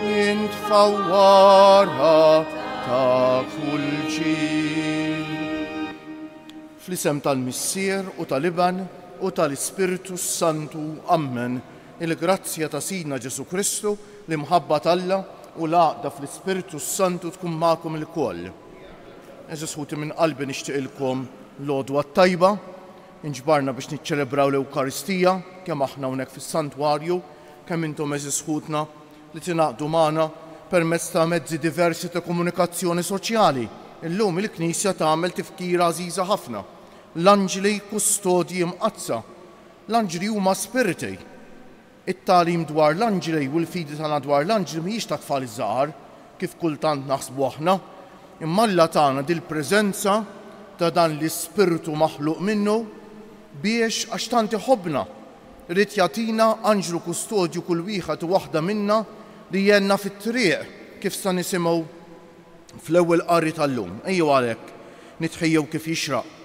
Int fawwara ta' kull ġil. Fl-isem tal-Missier u tal-Iben u tal-Ispirtu s-Santu, ammen. Il-grazzja ta' Sidna Ġesù Kristu, l-imħabba t'Alla, u l-għaqda fl-Ispirtu s-Santu tkun magħkom ilkoll. Għeżież ħuti minn qalbi nixtieqilkom l-Għodwa t-Tajba. Inġbarna biex niċċelebraw l-Ewkaristija, kemm aħna hawnhekk fis-Santwarju, kemm intom għeżież ħutna li tingħaqdu magħna permezz ta' mezzi diversi ta' komunikazzjoni soċjali. Illum il-Knisja tagħmel tifkira għażiża ħafna, l-Anġli Kustodji Imqaddsa. L-Anġli huma spiritej. It-tagħlim dwar l-anġli u l-fidi tagħna dwar l-anġli mhijiex tat-tfal iż-żgħar, kif kultant naħsbu aħna, imma Alla tana dil-preżenza ta' dan l-ispirtu maħluq minnu biex, għax tant iħobbna, ried jagħtina anġlu kustodju kull wieħed u waħda minna li jgħinna fit-triq, kif sa nisimgħu fl-ewwel qari tal-lum. Ejjew għalhekk nitħejjew kif jixraq.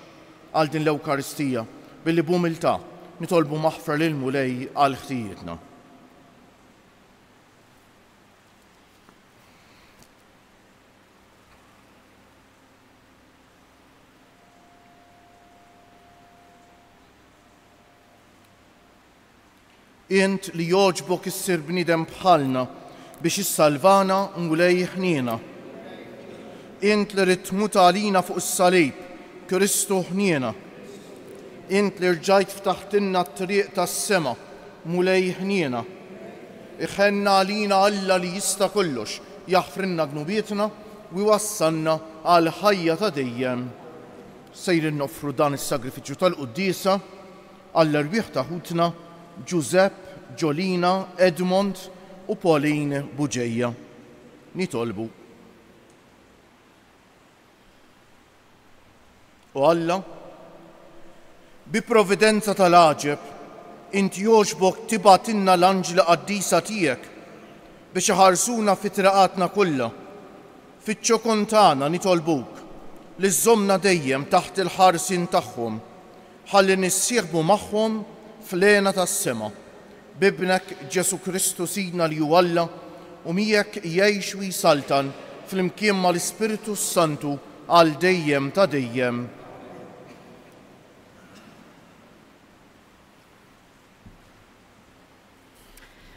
għal din l-Ewkaristija billi b'umiltà nitolbu maħfra lill-Mulej għal ħtijietna. Int li jogħġbok issir bniedem bħalna biex issalvana Mulej ħniena. Int li ridt tmut għalina fuq is-salib Kristu ħniena. Int li rġajt ftaħtilna t-triq tas-sema Mulej ħniena. Iħenn għalina Alla li jista' kollox jaħfrilna dnubietna u jwassalna għall-ħajja ta' dejjem. Sejrin noffru dan is-sagrifiċċju tal-Quddiesa Għall-erwieħ ta' ħutna Ġużepp, Ġolina, Edmond u Pauline Bugeja nitolbu. O Alla, bi providenza tal-għaġeb, int jogħġbok tibgħatilna l-anġli qaddisa tiegħek biex iħarsuna fi triqatna kollha. Fiċ-ċokon tagħna nitolbuk li żżommna dejjem taħt il-ħarsien tagħhom Ħalli nissieħbu magħhom fl-hena tas-sema, b'Ibnek Ġesù Kristu Sidna li hu Alla u miegħek jgħix u jsaltan flimkien mal-Ispirtu s-Santu għal dejjem ta' dejjem.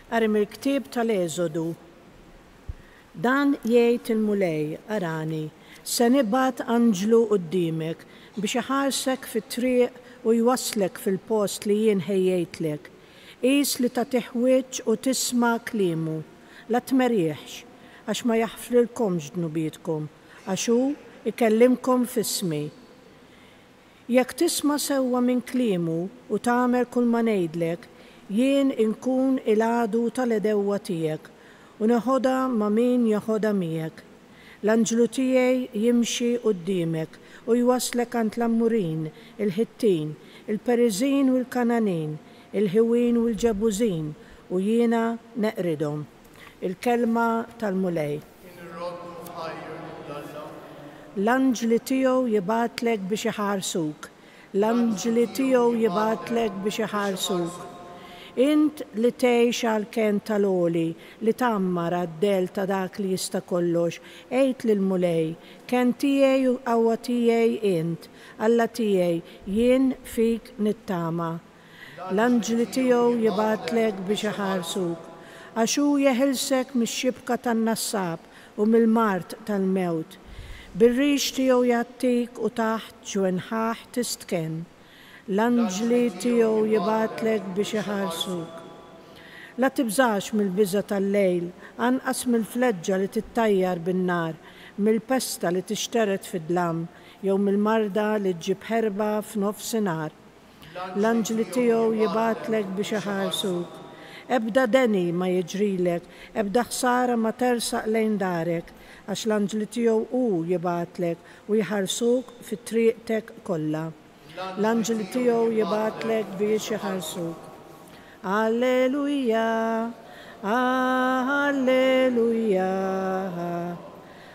Qari mill-ktieb tal-Eżodu. Dan jgħid il-Mulej, Arani, se nibgħat anġlu quddiemek biex iħarsek fit-triq u jwasslek fil-post li jien ħejjejtlek. Qis li tagħtih wiċċ u tisma' kliemu. La tmerrieħx, għax ma jaħfrilkomx dnubietkom, għax hu jkellimkom f'ismi. Jekk tisma' sewwa minn kliemu u tagħmel kulma ngħidlek, jien inkun il-għadu tal-għedewwa tiegħek, u neħodha ma' min jeħodha miegħek. L-anġlu tiegħi jimxi quddiemek u jwasslek għand l-Ammurin, il-Ħittin, il-Periżin u l-Kangħanin, il-Ħiwin u l-Ġebużin, u jiena neqridhom. Il-kelma tal-Mulej. Kien ir-Robb iħajjr lil Alla. L-anġli tiegħu jibgħatlek biex iħarsuk. L-anġli tiegħu jibgħatlek biex iħarsuk. Int li tgħix għall-kenn tal-Għoli, li tgħammar għad-dell ta' Dak li Jista' Kollox, għid lill-Mulej, Kenn tiegħi u qawwa tiegħi int, Alla tiegħi, jien fik nittama. L-anġli tiegħu jibgħatlek biex iħarsuk, għax hu jeħilsek mix-xibka tan-nassab u mill-mard tal-mewt. Bir-rix tiegħu jgħattik u taħt ġwenħħah tistkenn. L-anġli tiegħu jibgħatlek biex iħarsuk. La tibżax mill-biża' tal-lejl, anqas mill-fleġġa li tittajjar bin-nar, mill-pesta li tixtered fid-dlam, jew mill-marda li ġġib ħerba f'nofsinhar. L-anġli tiegħu jibgħatlek biex iħarsuk. Ebda deni ma jiġrilek, ebda ħsara ma tersaq lejn darek, għax l-anġli tiegħu hu jibgħatlek u jħarsuk fi trieqtek kollha. L-anġli tiegħu jibgħatlek biex iħarsuk. Alleluia! Alleluia!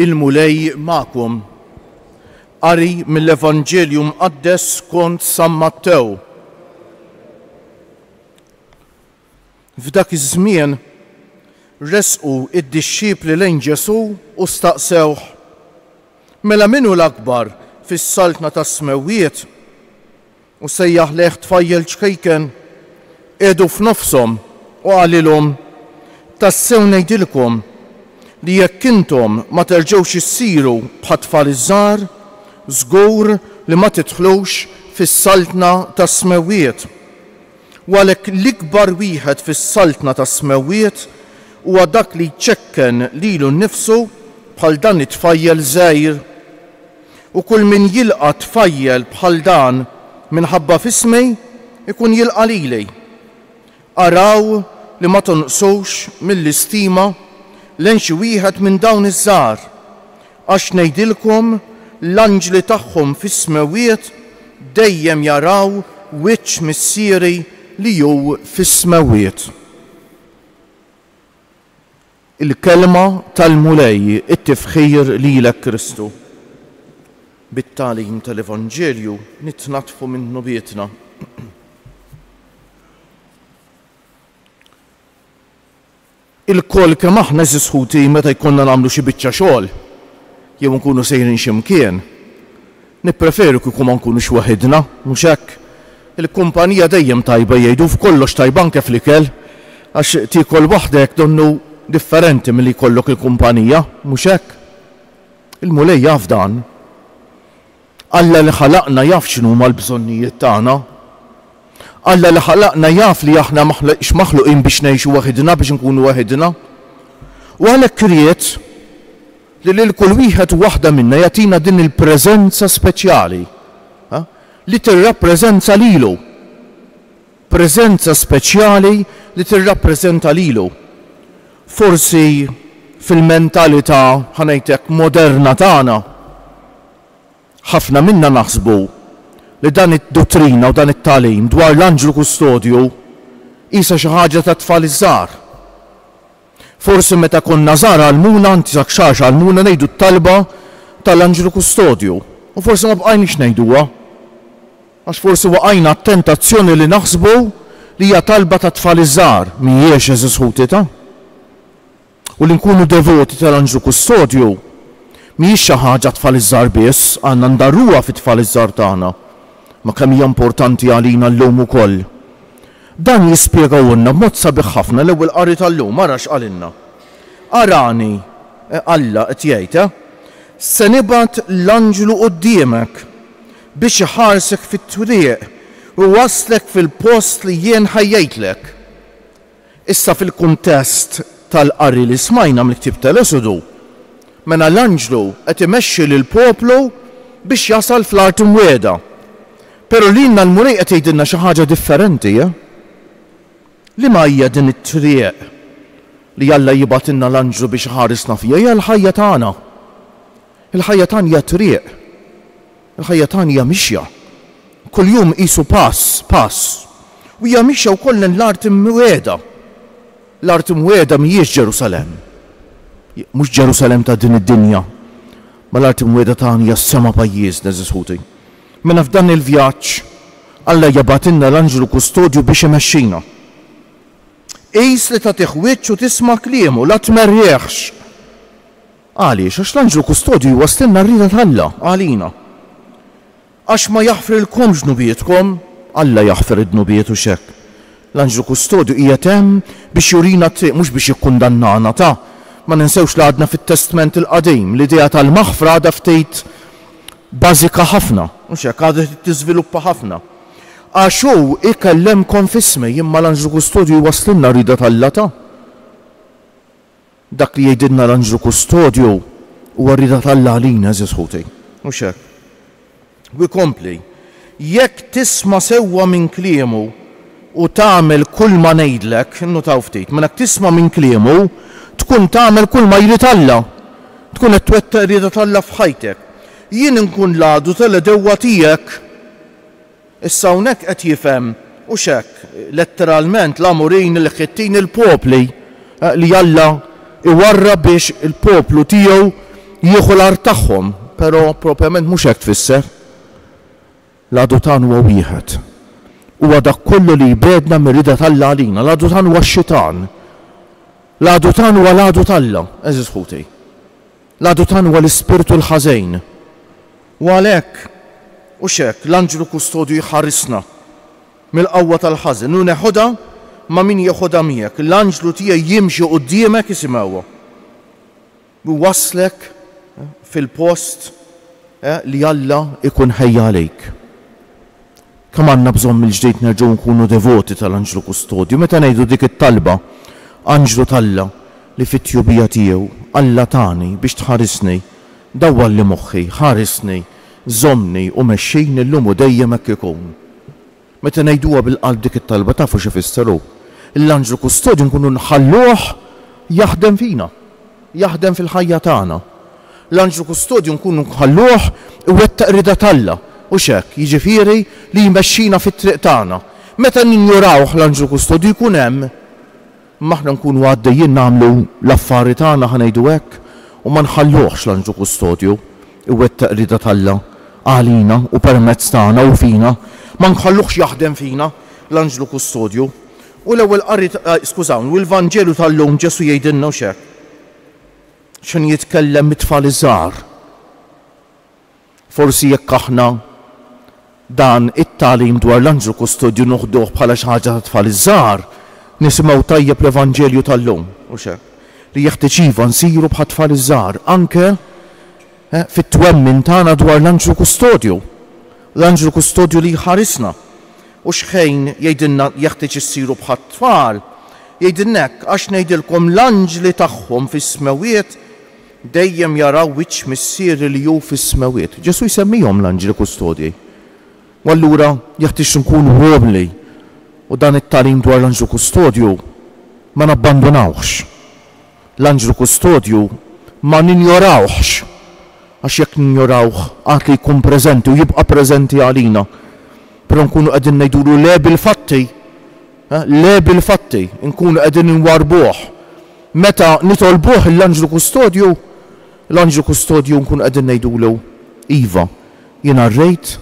Il-Mulej magħkom. Qari mill-Evanġelju Mqaddes skont San Mattew. F'dak iż-żmien resqu d-dixxipli lejn Ġesù u staqsewh, Mela min hu l-akbar fis-Saltna tas-Smewwiet? U sejjaħ lejh tfajjel ċkejken qiegħdu f'nofshom u qalilhom, Tassew ngħidilkom li jekk intom ma terġgħux issiru bħat-tfal iż-żgħar, żgur li ma tidħlux fis-Saltna tas-Smewwiet. U għalhekk l-ikbar wieħed fis-Saltna tas-Smewwiet huwa dak li jċekken lilu nnifsu bħal dan it-tfajjel żgħir. U kull min jilqa' tfajjel bħal dan minħabba f'ismi, ikun jilqa' lili. Araw li ma tonqsux mill-istima lejn xi wieħed minn dawn iż-żgħar, għax ngħidilkom, l-anġli tagħhom fis-smewwiet dejjem jaraw wiċċ Missieri li hu fis-smewwiet. Il-Kelma tal-Mulej, it-tifħir lilek Kristu. Bit-tagħlim tal-Evanġelju nitnaddfu minn dnubietna. Ilkoll kemm aħna eżiż ħuti meta jkollna nagħmlu xi biċċa xogħol jew inkunu sejrin xi mkien, Nippreferu kieku ma nkunux waħidna, mhux hekk? Il-kumpanija dejjem tajba jgħidu, f'kollox tajba anke fl-ikel, għax tiekol waħdek donnu differenti milli jkollok il-kumpanija, mhux hekk? Il-Mulej jaf dan. Alla li ħalaqna jaf x'inhuma l-bżonnijiet tagħna. Alla li ħalaqna jaf li aħna m'aħniex maħluqin biex ngħixu waħidna, biex inkunu waħidna. U għalhekk ried. Li lil kull wieħed u waħda minna jagħtina din il-preżenza speċjali, ha, li tirrappreżenza lilu. Preżenza speċjali li tirrappreżenta lilu. Forsi fil-mentalità, ħa ngħid hekk, moderna tagħna, ħafna minna naħsbu li dan id-duttrina u dan it-tagħlim dwar l-anġlu kustodju qisha xi ħaġa tat-tfal iż-żgħar. Forsi meta konna żgħar għallmuna, anzi sa kxax għallmuna ngħidu t-talba tal-Anġlu Kustodju u forsi ma bqajniex ngħiduha għax forsi waqajna għat-tentazzjoni li naħsbu li hija talba tat-tfal iż-żgħar, m'hijiex, għeżież ħuti ta'. U li nkunu devoti tal-Anġlu Kustodju m'hijiex xi ħaġa għat-tfal iż-żgħar biss, għandna ndarruha fit-tfal iż-żgħar tagħna. Ma kemm hija importanti għalina llum ukoll. Dan jispjegahulna b'mod sabiħ ħafna l-Ewwel Qari tal-lum, ara x'qalilna, Arani, Alla qed jgħid, eh, se nibgħat l-anġlu quddiemek biex iħarsek fit-triq u jwasslek fil-post li jien ħejjejtlek. Issa fil-kuntest tal-qari li smajna mill-ktieb tal-Esodu, mela l-anġlu qed imexxi lill-poplu biex jasal fl-Art Imwiegħda. Pero' lilna l-Mulej qed jgħidilna xi ħaġa differenti, eh? Liema hija din it-triq li Alla jibgħatilna l-anġlu biex iħarisna fiha? Hija l-ħajja tagħna. Il-ħajja tagħna hija triq. Il-ħajja tagħna hija mixja. Kuljum qisu pass, pass. U hija mixja wkoll lejn l-art imwiegħda. L-art imwiegħda mhijiex Ġerusalemm. Mhux Ġerusalemm ta' din id-dinja. Ma l-art imwiegħda tagħna hija s-sema pajjiżna, eżis ħuti. Mela f'dan il-vjaġġ Alla jibgħatilna l-anġlu kustodju biex imexxina. Qis li tagħtih wiċċ u tisma' kliemu, la tmerrieħx. Għaliex? Għax l-anġlu kustodju jwasslilna r-rieda t'Alla għalina. Għax ma jaħfrilkomx dnubietkom, Alla jaħfir id-dnubiet u x'hekk. L-anġlu kustodju qiegħed hemm biex jurina t-triq mhux biex jikkundannana. Ta. Ma ninsewx li għadna fit-Testment il-Qadim, l-idea tal-maħfra għadha ftit bażika ħafna, mhux hekk, għadha trid tiżviluppa ħafna. Għax hu jkellemkom f'ismi, imma l-anġlu kustodju jwasslilna r-rieda t'Alla ta'. Dak li jgħidilna l-anġlu kustodju huwa r-rieda t'Alla għalina, għeżież ħuti, mhux hekk? U jkompli. Jekk tisma' sewwa minn kliemu u tagħmel kulma ngħidlek, innutaw ftit, mela jekk tisma' minn kliemu, tkun tagħmel kulma jrid Alla. Tkun qed twettaq ir-rieda t'Alla f'ħajtek. Jien inkun l-għadu tal-għedewwa tiegħek. Issa hawnhekk qed jifhem, hux hekk, letteralment, l-Għamurin, il-Ħittin, il-popli li Alla jwarrab biex il-poplu tiegħu jieħu l-art tagħhom, però propjament mhux hekk tfisser. L-għadutan huwa wieħed. Huwa dak kollu li jbegħdna mir-rieda t'Alla għalina. L-għadutan huwa x-xitan. L-għadutan huwa l-għadu t'Alla, għeżież ħuti. L-għadutan huwa l-ispirtu l-ħażejn. U għalhekk, u x'hekk, l-anġlu kustodju jħarisna mill-qawwa tal-ħażen u neħodha ma' min jeħodha miegħek. L-anġlu tiegħi jimxi quddiemek isimgħuha. Iwasslek fil-post li Alla jkun ħejja għalik. Kemm għandna bżonn mill-ġdid nerġgħu nkunu devoti tal-Anġlu Kustodju meta ngħidu dik it-talba, Anġlu t'Alla li fit-tjubija tiegħu Alla tani biex tħarisni, dawwalli moħħi, ħarisni, żommni u mexxini llum u dejjem hekk ikun. Meta ngħiduha bil-qalb dik it-talba tafu x'ifisser hu? L-anġlu kustodju nkunu nħalluh jaħdem fina, jaħdem fil-ħajja tagħna. L-anġlu kustodju nkunu nħalluh iwettaq rieda t'Alla, hux hekk, jiġifieri li jmexxina fit-triq tagħna. Meta ninjorawh l-anġlu kustodju jkun hemm Imma aħna nkunu għaddejjin nagħmlu l-affari tagħna, ħa ngħidu hekk, u ma nħalluhx l-anġlu kustodju jwettaq rieda t'Alla għalina u permezz tagħna u fina, ma nħalluhx jaħdem fina l-anġlu kustodju. U l-Ewwel Qari, skużawni, u l-Vanġelu tal-lum Ġesù jgħidilna hux hekk. X'inhu jitkellem mit-tfal iż-żgħar. Forsi jekk aħna dan it-tagħlim dwar l-anġlu kustodju noħduh bħala xi ħaġa tat-tfal iż-żgħar, nisimgħu tajjeb l-Evanġelju tal-lum, hux hekk? Li jeħtieġ iva nsiru bħat-tfal iż-żgħar anke fit-twemmin tagħna dwar l-anġlu kustodju, l-anġlu kustodju li jħarisna. U x'ħin jgħidilna jeħtieġ issiru bħat-tfal? Jgħidilna hekk, Għax ngħidilkom l-anġli tagħhom fis-smewwiet Dejjem jaraw wiċċ Missieri li hu fis-Smewwiet. Ġesù jsemmihom l-anġli kustodji. U allura jeħtieġ nkunu umli u dan it-tagħlim dwar l-anġlu kustodju ma nabbandunawhx. L-anġlu kustodju ma ninjorawhx, għax jekk ninjorawh għad li jkun preżenti u jibqa' preżenti għalina, però nkunu qegħdin ngħidulu le bil-fatti. Le bil-fatti nkunu qegħdin inwarrbuh. Meta nitolbuh lill-anġlu kustodju, l-anġlu kustodju nkunu qegħdin ngħidulu, Iva, jiena rrejt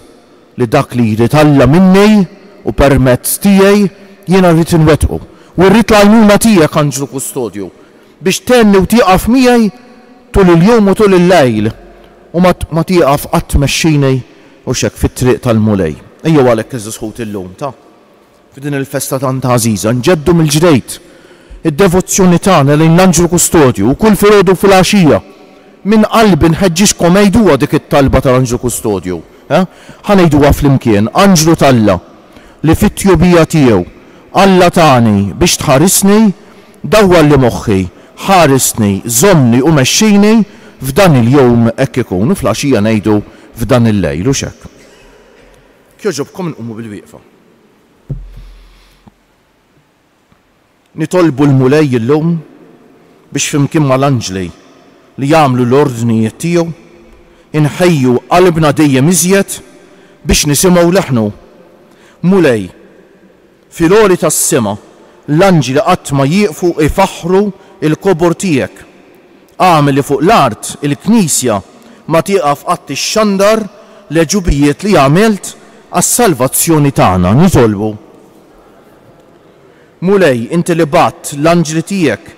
li dak li jrid Alla minni u permezz tiegħi jiena rrid inwettqu. U rrid l-għajnuna tiegħek, anġlu kustodju, biex tgħenni u tieqaf miegħi tul il-jum u tul il-lejl, u ma tieqaf qatt tmexxini, u x'hekk, fit-triq tal-Mulej. Ejjew għalhekk iż-żħut illum ta'. F'din il-festa tant għażiża nġeddu mill-ġdeid id-devozzjoni tagħna lejn l-Anġlu Kustodju u kull filgħodu u filgħaxija minn qalbi nħeġġiġkom għiduha dik it-talba tal-Anġlu Kustodju. Ħa ngħiduha flimkien, Anġlu t'Alla, li fit-tjubija tiegħu, Alla tani biex tħarisni, dawwalli moħħi, ħarisni, żommni u mexxini f'dan il-jum hekk ikun. U fl-għaxija ngħidu f'dan il-lejl, hux hekk? Jekk jogħġobkom inqumu bilwieqfa. Nitolbu l-Mulej illum biex flimkien mal-anġli li jagħmlu l-ordnijiet tiegħu, inħejju qalbna dejjem iżjed biex nisimgħu leħnu. Mulej, fil-għoli tas-sema, l-anġli qatt ma jieqfu jfaħħru l-kobor tiegħek. Agħmel li fuq l-art il-Knisja ma tieqaf qatt ixxandar l-għeġubijiet li għamilt għas-salvazzjoni tagħna. Nitolbu. Mulej, inti li bgħatt l-anġli tiegħek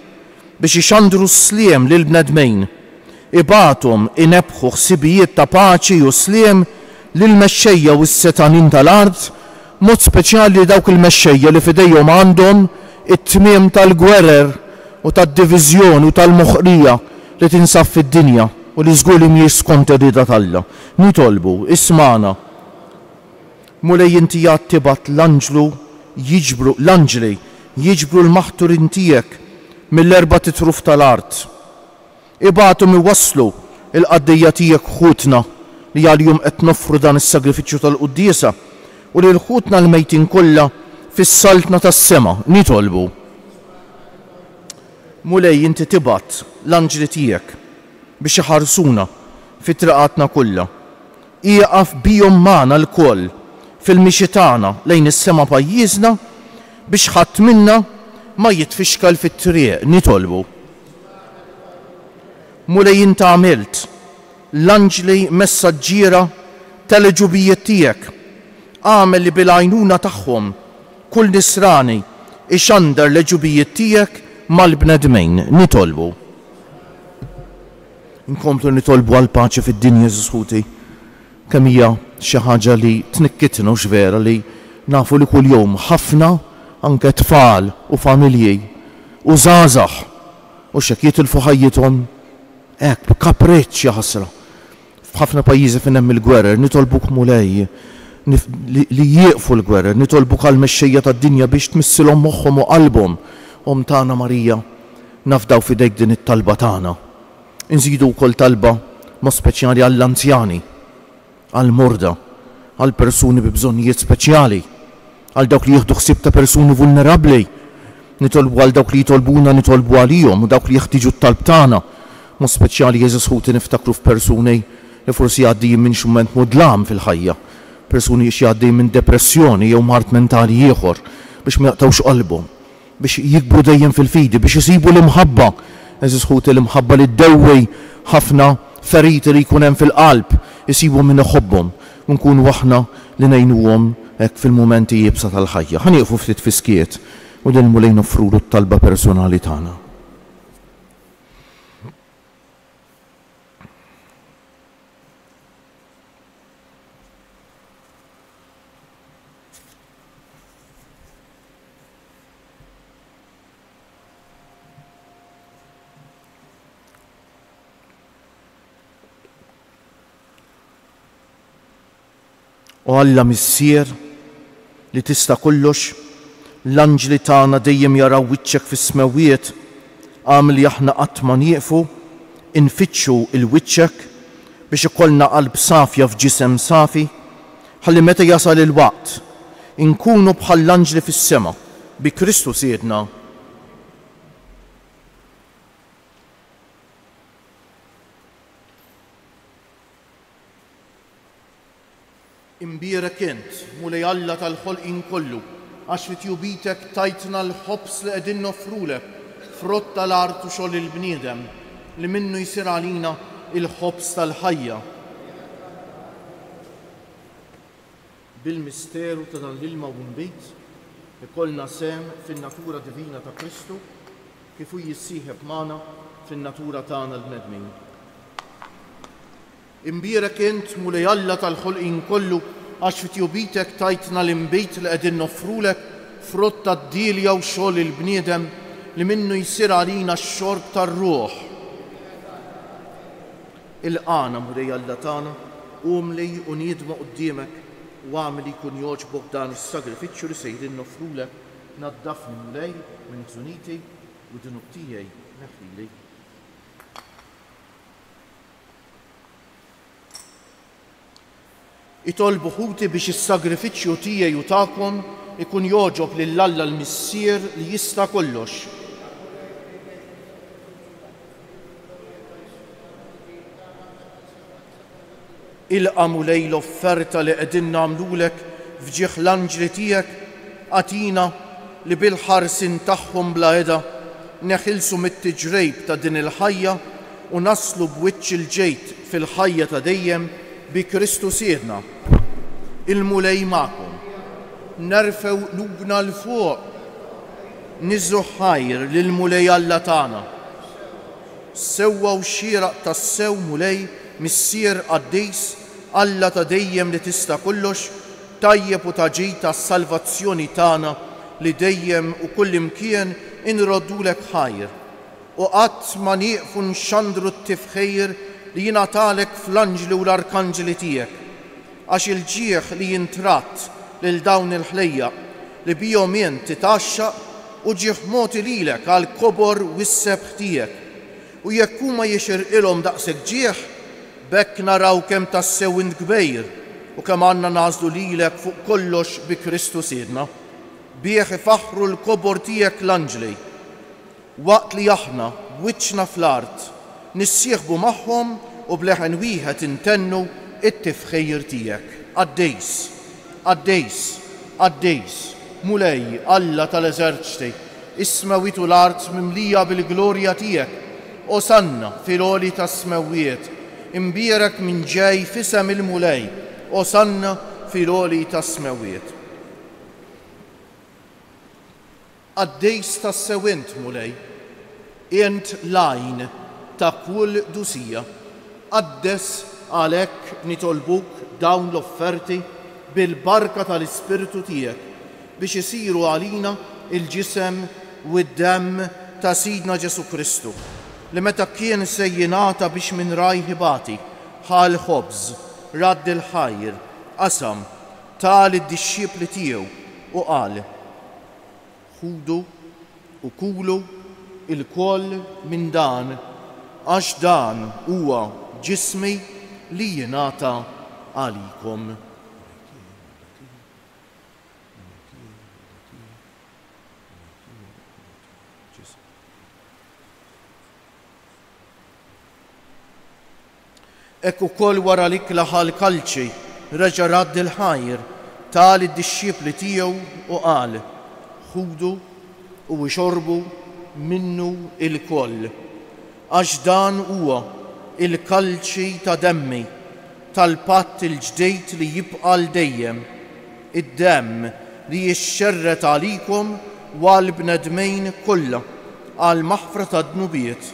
biex ixandru s-sliem lill-bnedmin, ibgħathom inebbħu ħsibijiet ta' paċi u sliem lill-mexxejja u s-setgħanin tal-art, b'mod speċjali dawk il-mexxejja li f'idejhom għandhom it-tmiem tal-gwerer u tad-diviżjoni u tal-moħqrija li tinsab fid-dinja u li żgur li mhijiex skont ir-rieda t'Alla. Nitolbu, ismagħna. Mulej inti għad tibgħat l-anġlu jiġbru, l-anġli, jiġbru l-maħturin tiegħek mill-erbat itruf tal-art. Ibagħthom iwasslu l-qaddejja tiegħek ħutna li għalihom qed noffru dan is-sagrifiċċju tal-quddiesa, u lil ħutna l-mejtin kollha fis-Saltna tas-sema, nitolbu. Mulej, inti tibgħat l-anġli tiegħek biex iħarsuna fi triqatna kollha. Ieqaf bihom magħna lkoll fil-mixi tagħna lejn is-sema pajjiżna biex ħadd minna ma jitfixkal fit-triq, nitolbu. Mulej int għamilt l-anġli messaġġiera tal-għeġubijiet tiegħek, agħmel li bil-għajnuna tagħhom kull nisrani jxandar l-għeġubijiet tiegħek mal-bnedmin. Nitolbu. Inkomplu nitolbu għall-paċi fid-dinja Ġesus ħuti. Kemm hija xi ħaġa li tnikkitna hux vera li nafu li kuljum ħafna anke tfal u familji u żgħażagħ hux hekk jitilfu ħajjithom hekk b'kapriċċ jaħasra. F'ħafna pajjiżi fejn hemm il-gwerer nitolbuk Mulej li jieqfu l-gwerer, nitolbuk għall-mexxejja tad-dinja biex tmissilhom moħħhom u qalbhom. Omm tagħna Marija nafdaw f'idejk din it-talba tagħna. Inżidu wkoll talba mod speċjali għall-anzjani, għall-morda, għall-persuni bi bżonnijiet speċjali, għal dawk li jieħdu ħsieb ta' persuni vulnerabbli. Nitolbu għal dawk li jitolbuna nitolbu għalihom u dawk li jeħtieġu t-talb tagħna. Mod speċjali għeżież ħuti niftakru f'persuni li forsi għaddejjin minn xi mument mudlam fil-ħajja, persuni xi għaddejjin minn depressjoni jew mard mentali ieħor, biex ma jaqtgħux qalbhom. biex jikbru dejjem fil-fidi, biex isibu l-imħabba. Għeżież ħuti, l-imħabba li ddewwi ħafna feriti li jkun hemm fil-qalb, isibu min iħobbhom, u nkunu aħna li ngħinuhom hekk fil-mumenti iebsa tal-ħajja. Ħa nieqfu ftit fi skiet u lill-Mulej noffrulu t-talba personali tagħna. O Alla Missier li tista' kollox, l-anġli tagħna dejjem jaraw wiċċek fis-smewwiet, agħmel li aħna qatt ma nieqfu infittxu 'l wiċċek biex ikollna qalb safja f'ġisem safi, ħalli meta jasal il-waqt, inkunu bħall-anġli fis-sema, bi Kristu Sidna Imbierek int, Mulej Alla tal-ħolqien kollu, għax fi tjubitek tajtna l-ħobż li qegħdin noffrulek, frott tal-art u xogħol il-bniedem, li minnu jsir għalina l-ħobż tal-ħajja. Bil-misteru ta' dan l-ilma u nbid, ikollna sehem fin-natura divina ta' Kristu kif hu jissieħeb magħna fin-natura tagħna l-bnedmin. Imbierek int, Mulej Alla tal-ħolqien kollu, għax fi tjubitek tajtna l-inbid li qegħdin noffrulek, frott tad-dielja u xogħol il-bniedem, li minnu jsir għalina x-xorb tar-ruħ. Ilqagħna, Mulej Alla tagħna, umli u niedma quddiemek, u agħmel li jkun jogħġbok dan is-sagrifiċċju li sejrin noffrulek. Naddafni, Mulej, minn ħżuniti, u d-dnub tiegħi neħħili. Itolbu ħuti biex is-sagrifiċċju tiegħi u tagħkom ikun jogħġob lil Alla l-Missier li jista' kollox. Ilqa' Mulej l-offerta li qegħdin nagħmlulek f'ġieħ l-anġli tiegħek, agħtina li bil-ħarsien tagħhom bla heda neħilsu mit-tiġrejb ta' din il-ħajja u naslu b'wiċċ il-ġid fil-ħajja ta' dejjem bi Kristu Sidna. Il-Mulej magħkom. Nerfgħu qlubna 'l fuq. Niżgħu ħajr lill-Mulej Alla tagħna. Sewwa u xieraq tassew Mulej, Missier qaddis, Alla ta' dejjem li tista' kollox, tajjeb u ta' ġid għas-salvazzjoni tagħna li dejjem u kullimkien inroddulek ħajr. U qatt ma nieqfu nxandru t-tifħir li jingħatalek fl-anġli u l-arkanġli tiegħek, għax il-ġieħ li jintratt lil dawn il-ħlejjaq li bihom int titgħaxxaq hu ġieħ mogħti lilek għall-kobor u s-sebħ tiegħek. U jekk huma jixirqilhom daqshekk ġieħ, b'hekk naraw kemm tassew int kbir u kemm għandna nagħżlu lilek fuq kollox bi Kristu Sidna. Bih ifaħħru l-kobor tiegħek l-anġli. Waqt li aħna, b'wiċċna fl-art, nissieħbu magħhom u b'leħen wieħed intennu t-tifħir tiegħek, Qaddis, qaddis, qaddis, Mulej, Alla tal-eżerċti, is-smewwiet u l-art mimlija bil-glorja tiegħek, Osanna fil-għoli tas-smewwiet, imbierek min ġej f'isem il-Mulej, Osanna fil-għoli tas-smewwiet. Qaddis tassew int, Mulej, int l-għajn ta' kull dusija. Qaddes għalhekk nitolbuk dawn l-offerti bil-barka tal-Ispirtu tiegħek biex isiru għalina l-ġisem u d-demm ta' Sidna Ġesù Kristu, li meta kien se jingħata biex minn rajh ibati, ħa l-ħobż, radd il-ħajr, qasam, ta lid-dixxipli tiegħu u qal, Ħudu u kulu lkoll minn dan, għax dan huwa ġismi li jingħata għalikom. Hekk ukoll wara l-ikla ħa l-kalċi, reġa' radd il-ħajr, ta lid-dixxipli tiegħu u qal, Ħudu u ixorbu minnu ilkoll, għax dan huwa l-kalċi ta' demmi tal-patt il-ġdid li jibqa' għal dejjem, id-demm li jixxerred għalikom u għall-bnedmin kollha għall-maħfra tad-dnubiet.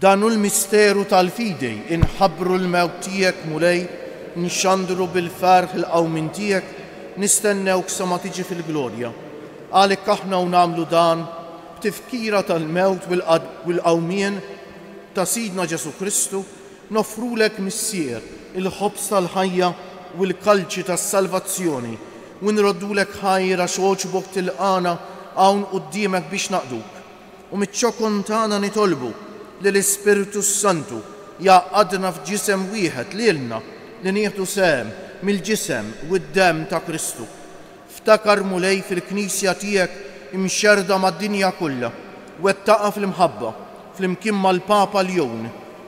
Dan hu l-misteru tal-fidi, Inħabbru l-mewt tiegħek, Mulej, nxandru bil-ferħ il-qawmien tiegħek, nistennewk sa ma tiġi fil-glorja. Għalik aħna u nagħmlu dan b'tifkira tal-mewt u l-qawmien ta' Sidna Ġesù Kristu, noffrulek, Missier, il-ħobż tal-ħajja u l-kalċi tas-salvazzjoni, u nroddulek ħajr għax għoġbok tilqagħna hawn quddiemek biex naqduk. u miċ-ċokon tagħna nitolbu li l-Ispirtu s-Santu jgħaqqadna f'ġisem wieħed lilna li nieħdu sehem mill-ġisem u d-demm ta' Kristu. Ftakar, Mulej, fil-Knisja tiegħek imxerrda mad-dinja kollha, wettaqha fl-imħabba, flimkien mal-Papa Ljon,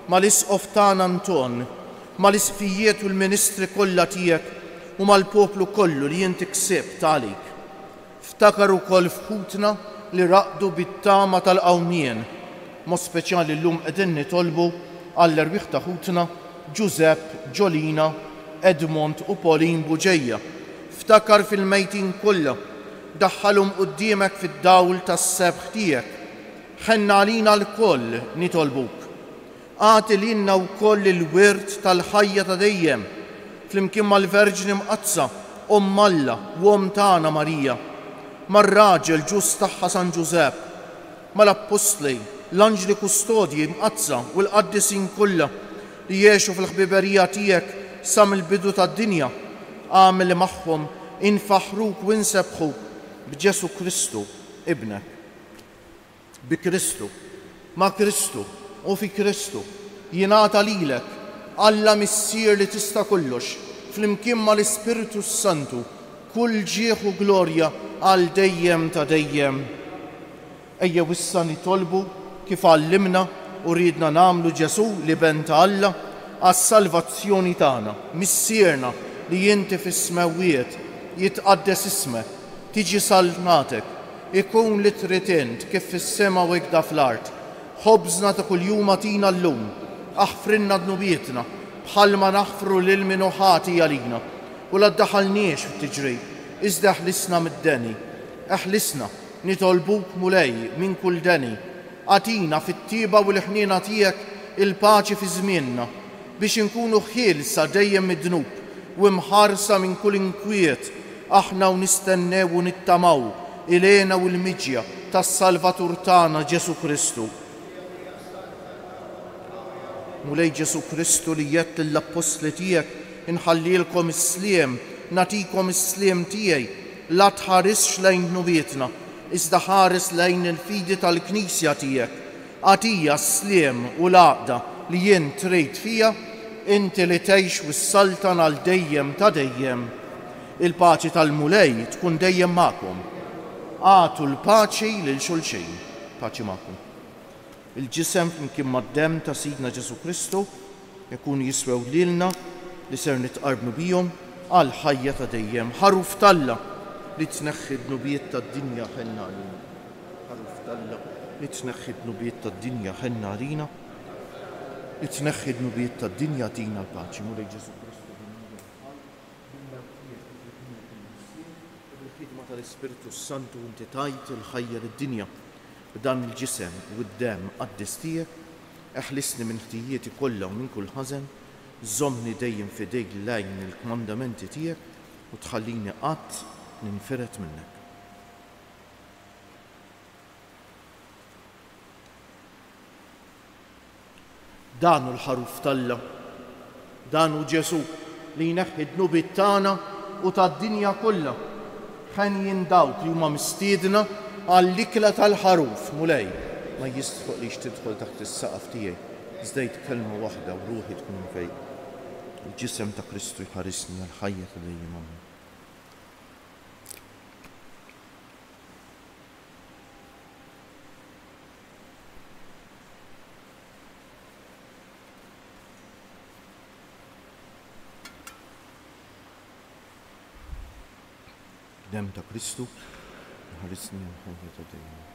mal-Isqof tagħna Anton, mal-Isqfijiet u l-ministri kollha tiegħek u mal-poplu kollu li int ksibt għalik. Ftakar ukoll f'ħutna li raqdu bit-tama tal-qawmien. Mod speċjali llum qegħdin nitolbu għall-erwieħ ta' ħutna Ġużepp, Ġolina, Edmond u Pauline Bugeja. Ftakar fil-mejtin kollha. Daħħalhom quddiemek fid-dawl tas-sebħ tiegħek. Ħenna għalina lkoll, nitolbuk. Agħti lilna wkoll il-wirt tal-ħajja ta' dejjem, flimkien mal-Verġni Mqaddsa, Omm Alla u Omm tagħna Marija, mar-raġel ġust tagħha San Ġużepp, mal-Appostli, l-Anġli Kustodji Mqaddsa u l-Qaddisin kollha li għexu fil-ħbiberija tiegħek sa mill-bidu tad-dinja, agħmel li magħhom infaħħruk u nsebbħuk b'Ġesù Kristu, Ibnek. Bi Kristu, ma' Kristu, u fi Kristu, jingħata lilek, Alla Missier li tista' kollox, flimkien mal-Ispirtu s-Santu, kull ġieħ u glorja għal dejjem ta' dejjem. Ejjew issa nitolbu, kif għallimna u riedna nagħmlu Ġesù, l-Iben ta' Alla, għas-salvazzjoni tagħna, Missierna li inti fis-smewwiet, jitqaddes ismek, tiġi saltnatek, Ikun li trid int, kif fis-sema u ikda fl-art. Ħobżna ta' kuljum agħtina llum. Aħfrilna dnubietna, bħalma naħfru lil min hu ħati għalina. U la ddaħħalniex fit-tiġrib, iżda eħlisna mid-deni. Eħlisna, nitolbuk, Mulej, minn kull deni. Agħtina, fit-tjieba u l-ħniena tiegħek, il-paċi fi żmienna. Biex inkunu ħielsa dejjem mid-dnub u imħarsa minn kull inkwiet, aħna hawn nistennew u nittamaw il-hena u l-miġja tas-Salvatur tagħna Ġesù Kristu. Mulej Ġesù Kristu li għedt lill-Appostli tiegħek, Inħallilkom is-sliem, nagħtikom is-sliem tiegħi, la tħarisx lejn dnubietna, iżda ħares lejn il-fidi tal-Knisja tiegħek, Agħtija s-sliem u l-għaqda li jien trejt fija, inti li tgħix u ssaltan għal dejjem ta' dejjem. Il-paċi tal-Mulej tkun dejjem magħkom. Agħtu l-paċi lil xulxin. Paċi magħkom. Il-ġisem flimkien mad-demm ta' Sidna Ġesù Kristu Ikunu jiswew lilna li ser nitqarbnu bihom għal ħajja ta' dejjem. Ħaruf t'Alla li tneħħi d-dnubiet tad-dinja ħenn għalina. Ħaruf t'Alla li tneħħi d-dnubiet tad-dinja ħenn għalina. Li tneħħi d-dnubiet tad-dinja tina l-paċi. Mulej Ġesù Kristu ħallina bħal bil-mewtiet u bil-bniet il-Missier u bil-ħidma tal-Ispirtu s-Santu inti tajt il-ħajja lid-dinja. B'dan il-ġisem u d-demm qaddis tiegħek, eħlisni minn ħtijieti kollha u minn kull ħażen, żommni dejjem f'idejk l-għajn il-kmandamenti tiegħek u tħallini qatt ninfired minnek. Dan hu l-Ħaruf t'Alla. Dan hu Ġesù li jneħħi d-dnubiet tagħna u tad-dinja kollha. Henjin dawk li huma mistiedna għall-ikla tal-Ħaruf. Mulej, ma jistħoqlix tidħol taħt is-saqaf tiegħi, iżda għid kelma waħda u ruħi tkun imfejqa. Il-Ġisem ta' Kristu jħarisni għall-ħajja ta' dejjem. Amen. Dem ta' Kristu, ħarisni minn ħajja ta' dejjem.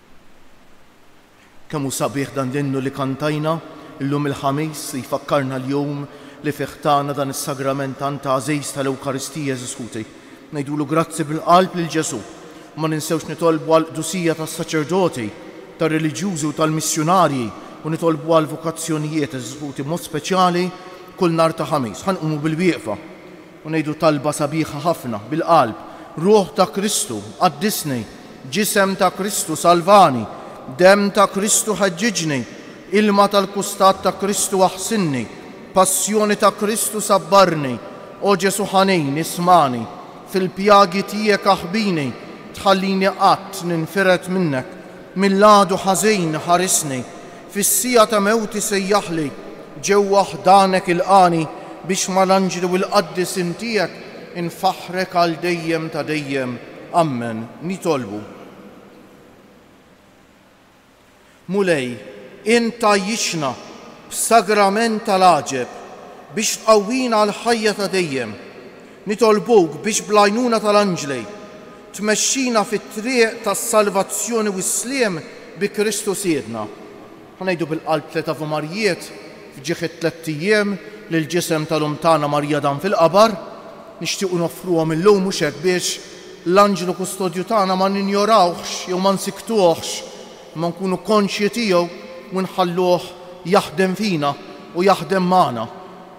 Kemm hu sabiħ dan l-innu li kantajna llum il-Ħamis li jfakkarna l-jum li fih tana dan is-sagrament tant għażiż tal-Ewkaristija għeżież ħuti. Ngħidulu grazzi bil-qalb lil Ġesù. Ma ninsewx nitolbu għall-qdusija tas-saċerdoti, tar-reliġjużi u tal-missjunarji u nitolbu għall-vokazzjonijiet għeżież ħuti b'mod speċjali kull nhar ta' Ħamis. Ħa nqumu bil-wieqfa. U ngħidu talba sabiħa ħafna, bil-qalb, Ruħ ta' Kristu, qaddisni, Ġisem ta' Kristu, salvani, Demm ta' Kristu, ħeġġiġni, Ilma tal-kustat ta' Kristu, aħsinni, Passjoni ta' Kristu, sabbarni, O Ġesu' ħanin, ismagħni, Fil-pjagi tiegħek aħbini, Tħallini qatt ninfired minnek, Mill-għadu ħażin ħarisni, Fis-siegħa ta' mewti sejjaħli ġewwa ħdanek ilqagħni biex mal-anġlu l-qaddisin tiegħek infaħħrek għal dejjem ta' dejjem. Ammen. Nitolbu. Mulej, int tgħajjixna b'sagrament tal-għaġeb biex tqawwina għall-ħajja ta' dejjem. Nitolbuk biex bl-għajnuna tal-anġli tmexxina fit-triq tas-salvazzjoni u s-sliem bi Kristu Sidna. Ħa ngħidu bil-qalb tliet Ave Marijiet f'ġieħ it-tlett ijiem li l-ġisem tal-Omm tagħna Marija dam fil-qabar. Nixtiequ noffruhom illum mhux hekk biex l-anġlu kustodju tagħna ma ninjorawhx jew ma nsiktuhx, imma nkunu konxji tiegħu u nħalluh jaħdem fina u jaħdem magħna.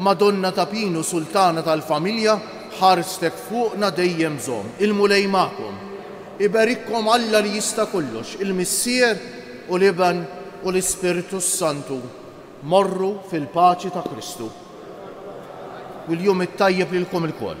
Madonna ta' Pinu Sultana tal-familja ħarstek fuqna dejjem zomm il-Mulej magħkom. Iberikkom Alla li jista' kollox il-Missier u l-Iben u l-Ispirtu s-Santu. Morru fil-paċi ta' Kristu. U l-jum it-tajjeb lilkom ilkoll.